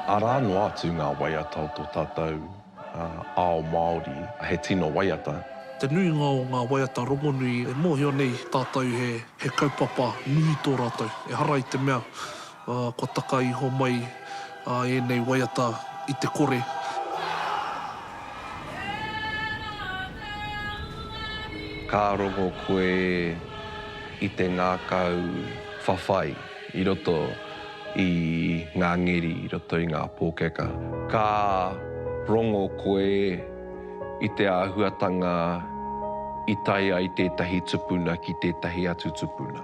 Arā noa atu ngā waiata o tō tātou ao Māori, he tino waiata. Te nuinga o ngā waiata rongonui e mōhio nei tātou he kaupapa nui tō rātou. Ehara i te mea kua taka iho mai ēnei waiata i te kore. Ka rongo koe? i te ngākau whawhai i roto i ngā ngeri, i roto i ngā pōkeka. Ka rongo koe i te āhuatanga i tae ai tētahi tupuna ki tētahi atu tupuna,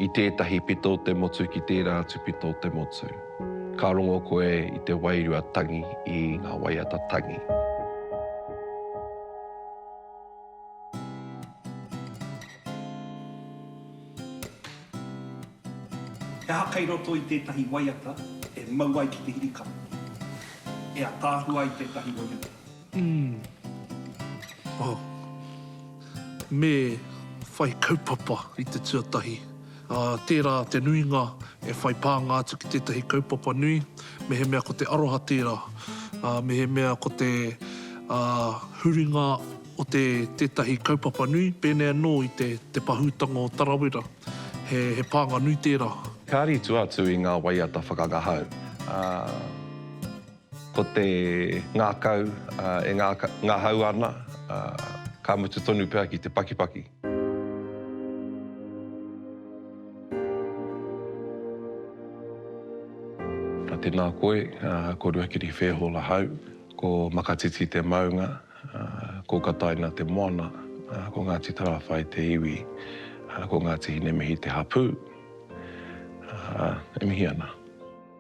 i tētahi pito o te motu ki tērā atu pito o te motu. Ka rongo koe i te wairua tangi, i ngā waiata tangi. He aha kei roto i tētahi waiata e mau ai ki te hirikapo? E ataahua ai tētahi waiata. Umm. Oh. Me whai kaupapa i te tuatahi. Ā, tērā te nuinga e whai pānga atu ki tētahi kaupapa nui, mehemea ko te aroha tērā, ā, mehemea ko te, ā, huringa o te, tētahi kaupapa nui, pēnei anō i te, te pahūtanga o Tarawera, he, he pānga nui tērā. Kāri tua atu i ngā waiata whakangahau, ā. Ko te ngākau e ngahau ana, ka mutu tonu pea ki te pakipaki. Tēnā koe, ko Ruakiri Fairhall ahau, ko Makatiti te maunga, ko Kataina te moana, ko Ngāti Tarāwhai te iwi, ko Ngāti Hinemihi te hapū. E mihi ana.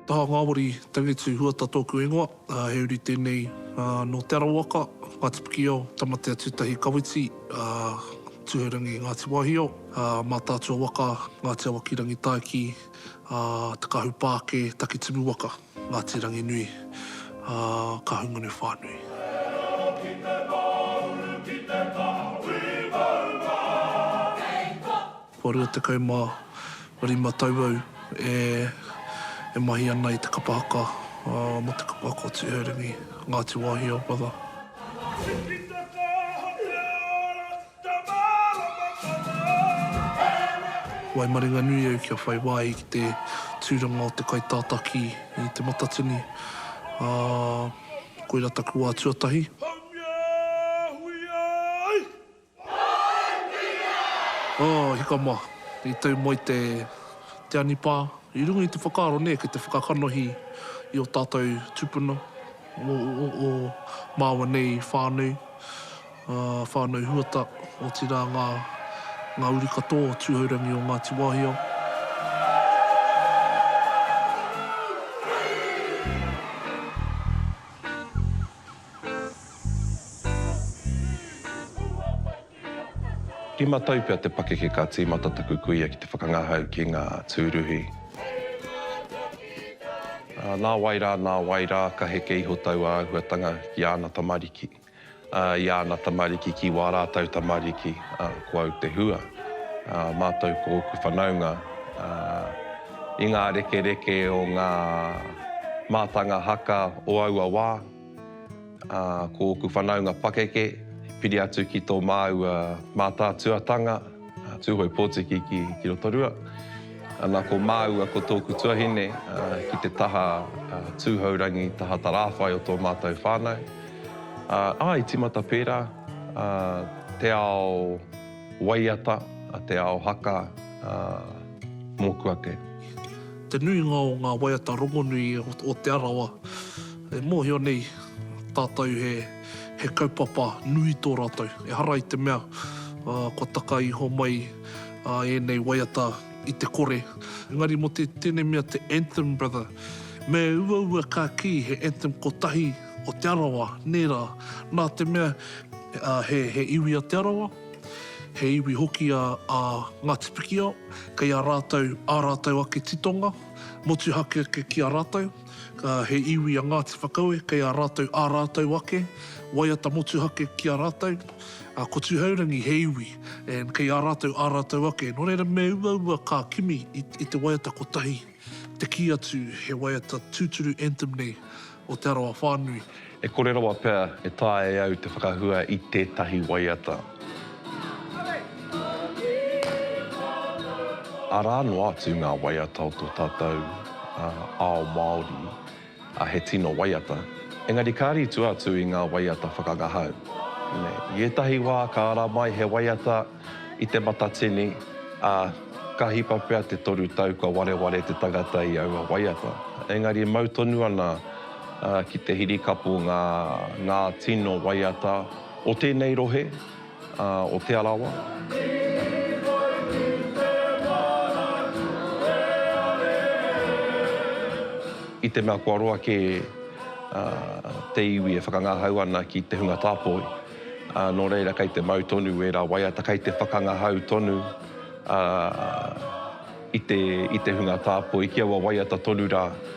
Taha ngawari, Tangitu Huata tōku ingoa, he uri tēnei nō Te Arawaka, Ngāti Pikiao, Tamatea-tū-tahi Kawiti, Tūhourangi, Ngāti Wāhio, Mātaatua waka, Ngāti Awakirangi-tāiki, Te Kahupāke, Takitimu waka, Ngāti Ranginui, Kahungunu whānui. Kua rua tekau ma rima tau au e mahi ana i te kapa haka mo te kapa haka o Tuheurangi, Ngati Wahi o Brother. Waimaringanui au kia whai wāhi ki te tūranga o te kaitātaki i te matatini, ā, koira taku wā tuatahi. Oh, hika ma. I tau mai te Te Anipā. I runga i te whakaaro nē ki te whakakanohi i o tātou tupuna o māua nei whānau, whānau Huata, otirā ngā ngā uri katoa o Tūhourangi o Ngāti Wāhia. Rima tau pea te pakeke ka tīmata taku kuia ki te whakangahau ki ngā tūruhi. Nā wai rā, nā wai rā, ka heke iho taua āhuatanga ki āna tamariki, i āna tamariki, ki wā rātou tamariki, ko au te hua. Mātou ko ōku whanaunga, i ngā rekereke o ngā mātanga haka o aua wā. Ā, ko ōku whanaunga pakeke, i piri atu ki tō māua mātātuatanga, a Tūhoe Pōtiki ki Rotorua. Ana ko māua ko tōku tuahine ki te taha tūhourangi, taha tarāwhai o tō mātou whānau. Ā, ā, i tīmata pērā te ao waiata, te ao haka mōku ake. Te nuinga o ngā waiata rongonui o Te Arawa e mōhio nei tātou he kaupapa nui tō rātou, ehara i te mea kua taka iho mai ēnei waiata i te kore. Engari mō tēnei mea te Anthem Brother, me uaua ka kī he anthem kotahi o Te Arawa, nē rā, nā te mea he iwi a Te Arawa, He iwi hoki a a Ngāti Pikiao, kei a rātou ā rātou ake titonga, motuhake ake ki a rātou. He iwi a Ngāti Whakaue, kei a rātou ā rātou ake waiata motuhake ki a rātou. Ko Tūhourangi he iwi, and kei a rātou ā rātou ake. Nō reira me uaua kā kimi i te waiata kotahi. Te kī atu, he waiata tūturu anthem nei o Te Arawa whānui. E kore rawa pea e taea e au te whakahua i tētahi waiata. Arā noa atu ngā waiata o tō tātou ao Māori. A he tino waiata. Engari ka ritua atu i ngā waiata whakangahau. I ētahi wā ka ara mai he waiata i te matatini, ā, ka hipa pea te toru tau kua wareware te tangata i aua waiata. Engari mau tonu ana ki te hirikapu ngā tino waiata o tēnei rohe. o Te Arawa. I te mea kua roa kē te iwi e whakangahau ana ki te hunga tāpoi, nō reira kei te mau tonu ērā waiata, kei te whakangahau tonu i te hunga tāpoi ki aua waiata tonu rā.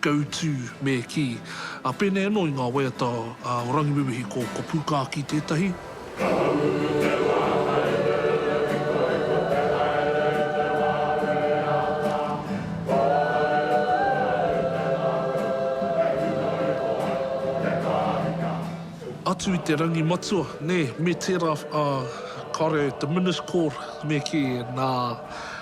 Go to, me kī. Ā, pēnei anō i ngā waiata o Rangiwewehi, ko, ko Pūkākī tētahi. Atu i te rangi matua, nē, me tērā, ā, kāore te Minis Kōr, me kī, nā,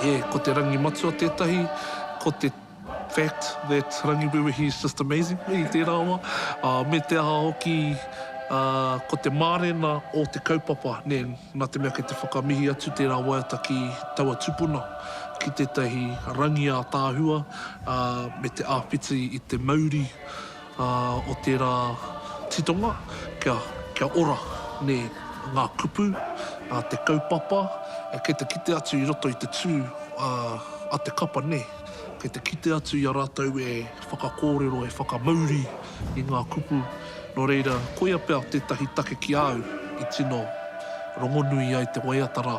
E, ko te rangi matua tētahi, ko te fact that Rangiwewehi is just amazing i tērā wā, ā, me te aha hoki, ā, ko te mārena o te kaupapa, nē, nā te mea kei te whakamihi atu tērā waiata ki taua tupuna, ki tētahi rangi ātaahua, ā, me te āwhiti i te mauri. Ā, o tērā titonga, kia, kia ora, nē, ngā kupu, ā, te kaupapa, kei te kite atu i roto i te tū, ā, a te kapa, nē, kei te kite atu i a rātou e whakakōrero, e whakamauri i ngā kupu. Nō reira, koia pea tētahi take ki a au i tino rongonui ai te waiata rā.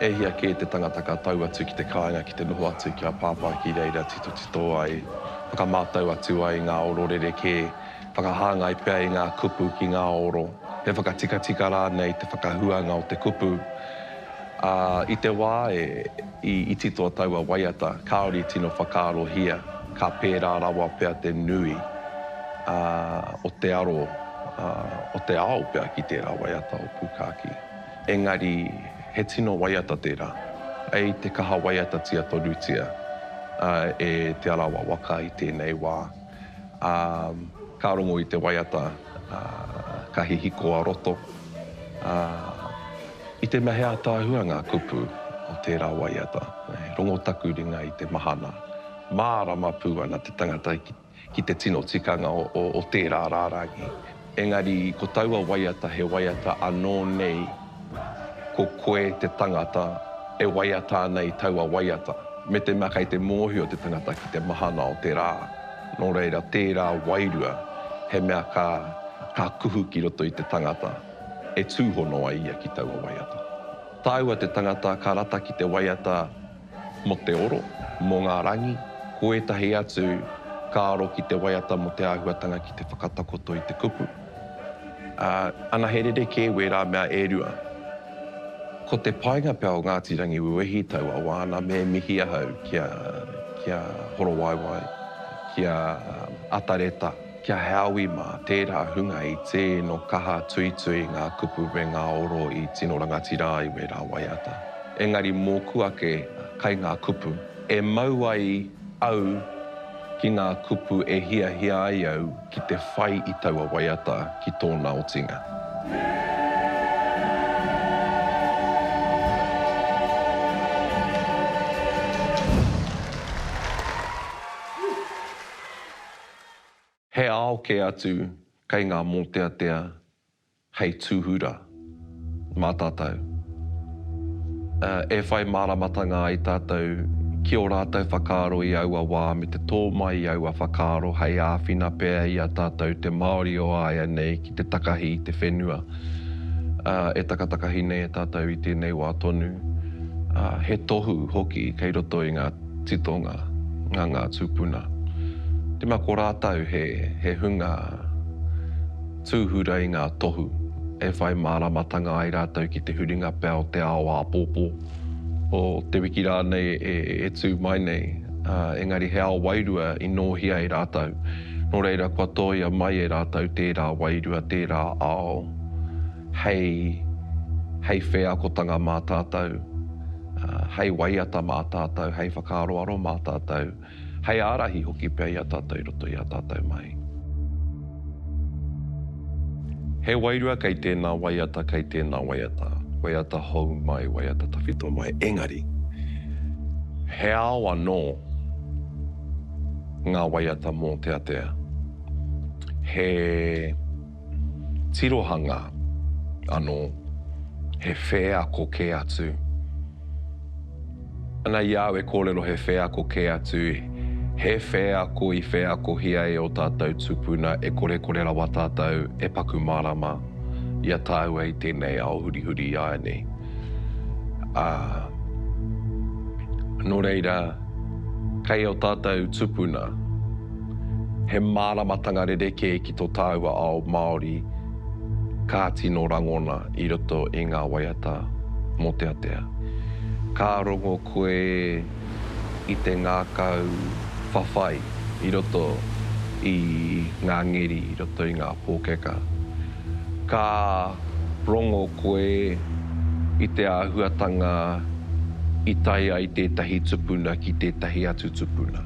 E hia kē te tangata ka tau atu ki te kāinga ki te noho atu ki a Pāpā ki reira titotito ai, whakamātau atu ai ngā oro rerekē, whakahāngai pea i ngā kupu ki ngā oro, he whakatikatika rānei te whakahuanga o te kupu. Ā, i te wā e, i iti tō taua waiata, kāore i tino whakaarohia, ka pērā rawa pea te nui, ā, o te aro, ā, o te ao pea ki tērā waiata o Pūkākī. Engari, he tino waiata tērā. I te kaha waiatatia tonutia e Te Arawa waka i tēnei wā, ā, ka rongo i te waiata ka hihiko a roto, ā, i te mea he ataahua ngā kupu o tērā waiata, rongo taku ringa i te mahana, mārama pū ana te tangata ki. ki te tino tikanga o tērā rārangi. Engari ko taua waiata he waiata anō nei ko koe te tangata e waiata ana i taua waiata, me te mea kei te mōhio te tangata ki te mahana o te rā. Nō reira, tērā wairua he mea ka ka kuhu ki roto i te tangata e tūhono ai ia ki taua waiata. Tāua te tangata ka rata ki te waiata. Mō te oro, mō ngā rangi, ko ētahi atu ka aro ki te waiata mō te āhuatanga ki te whakatakoto i te kupu. Ā, anahe rerekē wērā mea e rua. Ko te painga pea o Ngāti Rangiwewehi taua wā nā me mihi ahau ki a, ki a Horowaewae, ki a Atareta. Kia Hāui mā tērā hunga i tē no kaha tuitui ngā kupu me ngā oro i tino rangatira ai wērā waiata. Engari mōku ake kai ngā kupu e mau ai au ki ngā kupu e hiahia ai au ki te whai i taua waiata ki tōna otinga. He ao kē atu kei ngā mōteatea hei tūhura mā tātou. E whai māramatanga ai tātou ki ō rātou whakaaro i aua wā me te tō mai i aua whakaaro hei āwhina pea i a tātou te Māori o āianei ki te takahi i te whenua. E takatakahi nei e tātou i tēnei wā tonu, he tohu hoki kei roto i ngā. titonga, nga nga tupuna. Rima ko ratou he he hunga tuhura i nga tohu e whai maramatanga ai ratou ki te huringa pea o te ao apopo, o te wiki ranei e tu mai nei, engari he ao wairua i nohia e ratou, no reira kua toia mai e ratou tera wairua, tera ao hei hei wheakotanga ma tatou. Hei waiata mā tātou, hei whakaaroaro mā tātou, hei ārahi hoki pea i a tātou i roto i a tātou mahi. He wairua kei tēnā waiata, kei tēnā waiata, waiata hou mai, waiata tawhito mai, engari, he ao anō ngā waiata mōteatea. He. tirohanga anō, he wheako kē atu. Ana i a au e kōrero he wheako kē atu, he wheako i wheakohia e ō tātou tupuna e korekore rawa tātou e paku mārama i a tāua i tēnei ao hurihuri i aia nei. Ā, nō reira, kei ō tātou tupuna he māramatanga rerekē i tō tāua ao Māori ka tino rangona i roto i ngā waiata mōteatea. Ka rongo koe i te ngākau whawhai i roto i ngā ngeri, i roto i ngā pōkeka. Ka rongo koe i te āhuatanga i tae ai tētahi tupuna ki tētahi atu tupuna.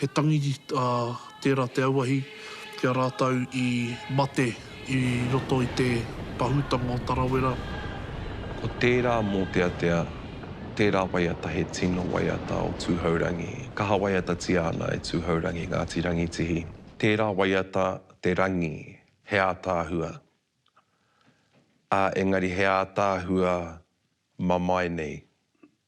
He tangi tērā te auahi ki a rātou i mate i roto i te pahūtanga o Tarawera. Ko tērā mōteatea, tērā waiata he tino waiata o Tūhourangi, kaha waiatatia ana e Tūhourangi Ngāti Rangitihi. Tērā waiata te rangi, he ātaahua, ā, engari he ātaahua mamae nei,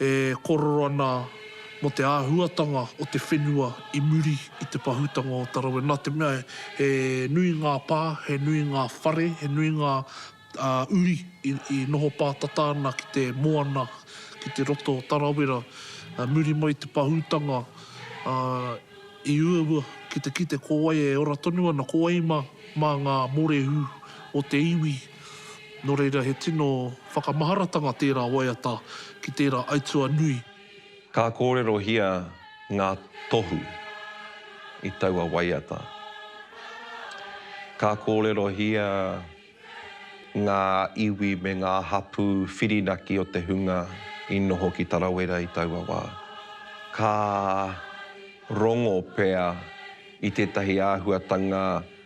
e kōrero ana mō te āhuatanga o te whenua i muri i te pahūtanga o Tarawe, nā te mea he nui ngā pā, he nui ngā whare, he nui ngā uri i noho pātata ana ki te moana, ki te roto o Tarawera. Muri mai i te pahūtanga, i uaua ki te kite ko wai e ora tonu ana, ko wai mā ngā mōrehu o te iwi. Nō reira he tino whakamaharatanga tērā waiata ki tērā aituā nui. Ka kōrerohia ngā tohu i taua waiata. Ka kōrerohia ngā iwi me ngā hapū whirinaki o te hunga i noho ki Tarawera i taua wā. Ka rongo pea i tētahi āhuatanga.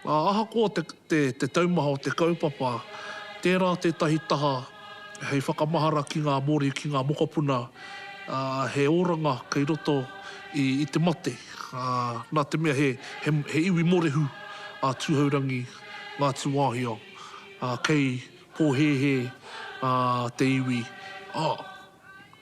Ā, ahakoa te, te, te taumaha o te kaupapa, tērā tētahi taha hei whakamahara ki ngā Māori, ki ngā mokopuna, ā, he oranga kei roto i, i te mate, ā, nā te mea he, he, he iwi morehu a Tūhourangi ngā tūāhio, ā, kei pōhēhē, ā, te iwi, ā.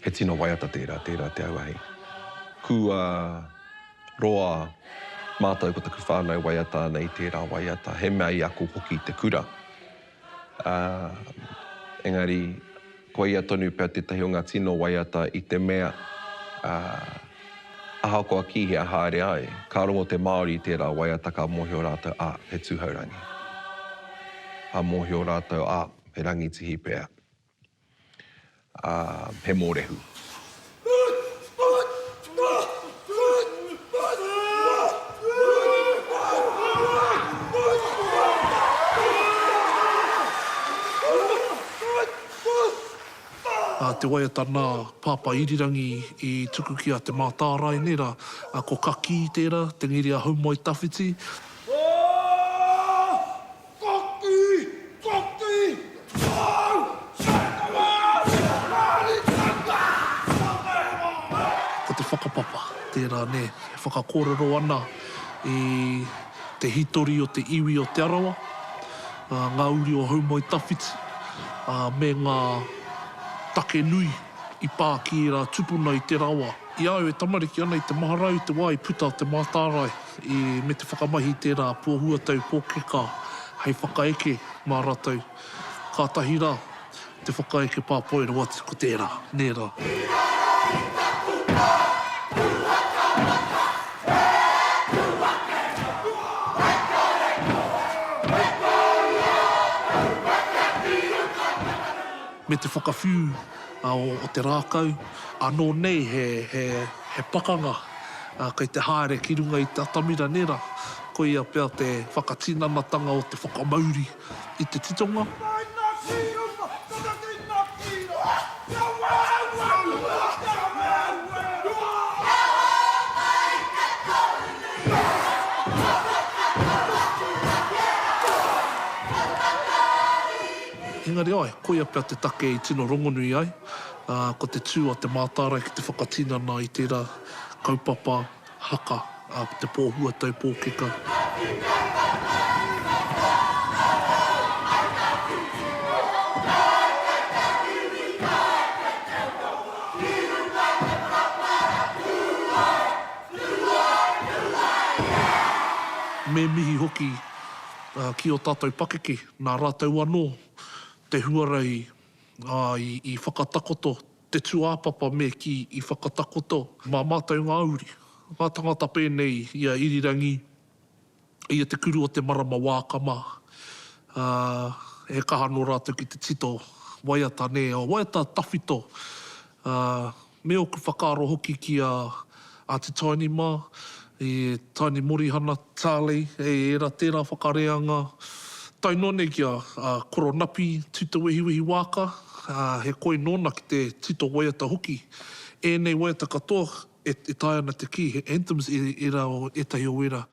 He tino waiata tērā, tērā te auahi. Kua roa mātou ko taku whānau waiata ana i tērā waiata, he mea i ako hoki te kura. Ā, engari, ko ia tonu pea tētahi o ngā tino waiata i te mea, ā, ahakoa ki hea haere ai, ka rongo te Māori i tērā waiata ka mōhio rātou, ā, he tūhourangi. Ka mōhio rātou, ā, he rangitihi pea. ā, he mōrehu. Nā te waiata nā Pāpā Irirangi i tuku ki a Te Mātārae nei rā, ko Kakī tērā, te ngiri a Haumoetawhiti. Koti! Koti! Tau! Saitama! Rāri tata! Ko te whakapapa tērā nē, e whakakōrero ana i te hitori o te iwi o Te Arawa, ngā uri o Houmoetawhiti, me ngā take nui i pā ki ērā tupuna i te rawa. I a au e tamariki ana i te mahara au i te wā i puta te mātārae i me te whakamahi i tērā pua huatau pōkeka hei whakaeke mā ratou, kātahi rā te whakaeke pāpoi rawati ko tērā, nē rā. He aha i taku pā puakamata? He aku wakenga, he kore koe, he kōrua ōku waka ki uta whakanui. Me te whakawhiu o te rākau, ānō nei he pakanga kei te haere ki runga i te atamira nērā, koia pea te whakatinanatanga o te whakamauri i te titonga. Engari āe, Koia pea te take i tino rongonui ai, ā, ko te tū a Te Mātārae ki te whakatinana i tērā kaupapa haka, ā, ko te pō huatau pōkeka. Me mihi hoki ki ō tātou pakeke, nā rātou anō te huarahi, ā, i, i whakatakoto te tūāpapa me kī, i whakatakoto mā mātou ngā uri, ngā tangata pēnei i a Irirangi, i a Te Kuru o te Marama Wākama, ā, he kaha anō rātou ki te tito waiata, nē, o waiata tawhito, ā, Me oku whakaaro hoki ki a a Te Taini mā, e Taini Morihana, Tarley, e ērā tērā whakareanga, tae noa nei ki a a Koronapi Tutowehiwehi Waaka, ā, he koi nōna ki te tito waiata hoki. Ēnei waiata katoa e taea ana te kī he anthems e ērā o ētahi o ērā.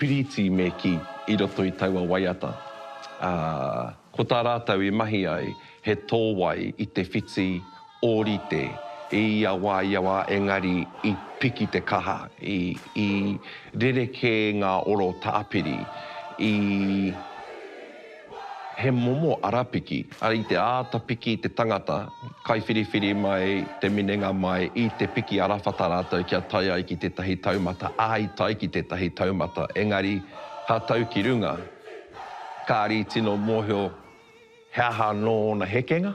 Piriti me ki i roto i taua waiata, ā, ko tā rātou i mahi ai he tōwai i te whiti ōrite i ia wā, ia wā, engari i piki te kaha, i, i rerekē ngā oro tāpiri, i. He momo arapiki. Ara i te āta piki te tangata, kaiwhiriwhiri mai te minenga mai i te piki arawhata rātou kia tae ai ki tētahi taumata, ā, i tae ki tētahi taumata, engari ka tau ki runga, kāri tino mōhio he aha anō ōna hekenga.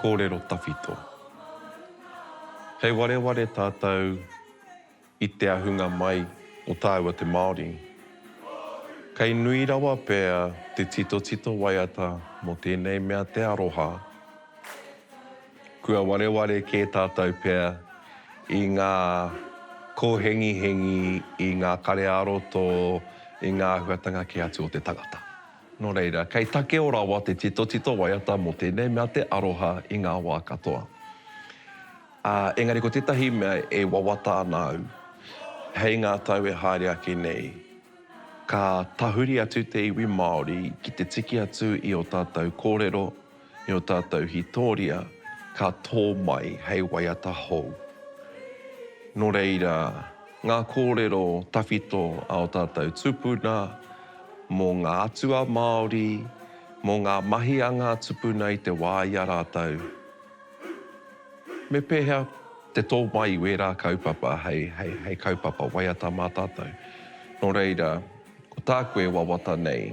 kōrero tawhito. Kei wareware tātou i te ahunga mai o tāua te Māori. Kei nui rawa pea te titotito waiata mō tēnei mea te aroha. Kua wareware kē tātou pea i ngā kōhengihengi, i ngā kare ā-roto, i ngā āhuatanga kē atu o te tangata. Nō reira, kei takeo rawa te titotito waiata mō tēnei mea te aroha i ngā wā katoa. Ā, engari ko tētahi mea e wawata ana au, hei ngā tau e haere ake nei, ka tahuri atu te iwi Māori ki te tiki atu i ō tātou kōrero, i ō tātou hītoria ka tō mai hei waiata hou. Nō reira, ngā kōrero tawhito a ō tātou tupuna mō ngā atua Māori, mō ngā mahi a ngā tupuna i te wā i a rātou, me pēhea te tō mai i wērā kaupapa hei kaupapa waiata mā tātou. Nō reira, ko tāku e wawata nei,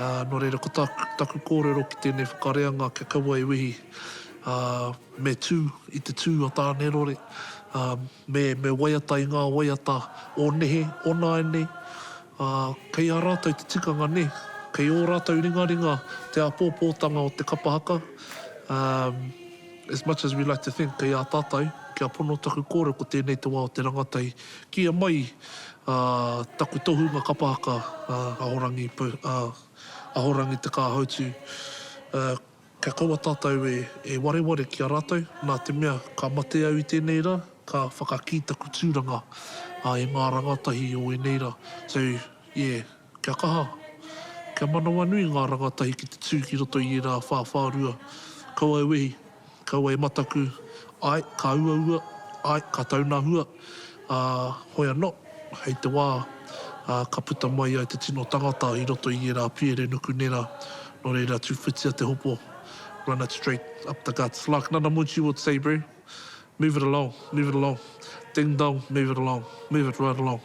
Ā, nō reira ko tāku, taku kōrero ki tēnei whakareanga kia kaua e wehi, ā, me tū i te tū a Tānerore, ā, me, me waiata i ngā waiata o nehe, o nāianei, ā, kei a rātou te tikanga nē, kei ō rātou ringaringa te āpōpōtanga o te kapa haka, ā, as much as we like to think kei a tātou, kia pono taku kōrero ko tēnei te wā o te rangatahi Kīia mai taku tohunga kapa haka Ahorangi Ahorangi Te Kāhautu Kia kaua tātou e wareware ki a rātou Nā te mea ka mate au i tēnei rā Ka whakakī taku tūranga e ngā rangatahi o ēnei rā So yeah Kia kaha, kia manawanui ngā rangatahi ki te tū ki roto i ērā whāwhārua, kaua e wehi, kaua e mataku, āe, ka uaua, āe, ka taunahua, ā, hoi anō, hei te wā, ā, ka puta mai ai te tino tangata i roto i ērā piere nuku nera, nō reira tūwhitia te hopo, run it straight up the guts, like Nana Muji would say, Bree, move it along, move it along, ding dong, move it along, move it right along.